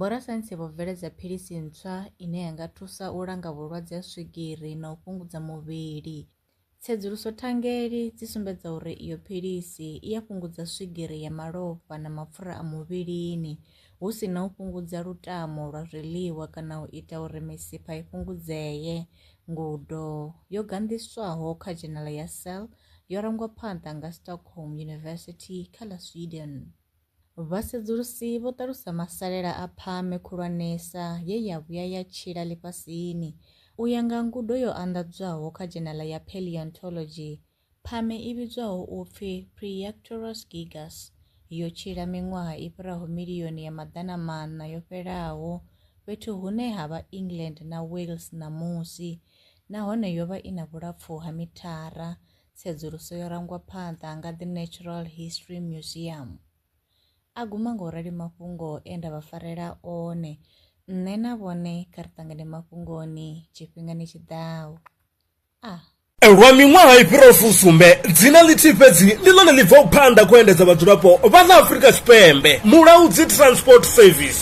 Vhorasaintsi vho bveledza philisi ntswa ine ya nga thusa u langa vhulwadze ha swigiri na u fhungudza muvhili. Tsedzuluso thangeli dzi sumbedza uri iyo philisi i a fhungudza swigiri ya malofha na mapfura a muvhilini, hu si na u fhungudza lutamo lwa zwiḽiwa kana u ita uri misipha i fhungudzee. Ngudo yo ganḓiswaho kha dzhenala ya Cell yo rangwa phanḓa nga Stockholm University kha ḽa Sweden. Vhasedzulusi vho ṱalusa masalela a phame khulwanesa ye ya vhuya ya tshila ḽifhasini. U ya nga ngudo yo anḓadzwaho kha dzhenala ya paleontology, phame i vhidzwaho u pfi Priactorus gigas yo tshila miṅwaha i fhiraho milioni ya maḓana maṋa yo fhelaho fhethu hune ha vha England na Wales ṋamusi nahone yo vha i na vhulapfu ha mithara Tsedzuluso yo rangwa phanḓa nga The Natural History Museum. A guma nga u rali mafhungo e nda vha farela one, nṋe na vhone kha ri ṱangane mafhungoni tshifhingani tshi ḓaho. A. Lwa miṅwaha i fhiraho fusumbe, dzina ḽithihi fhedzi ndi ḽone ḽi bvaho phanḓa khou endedza vhadzulapo vha ḽa Afrika Tshipembe, Mulaudzi Transport Service.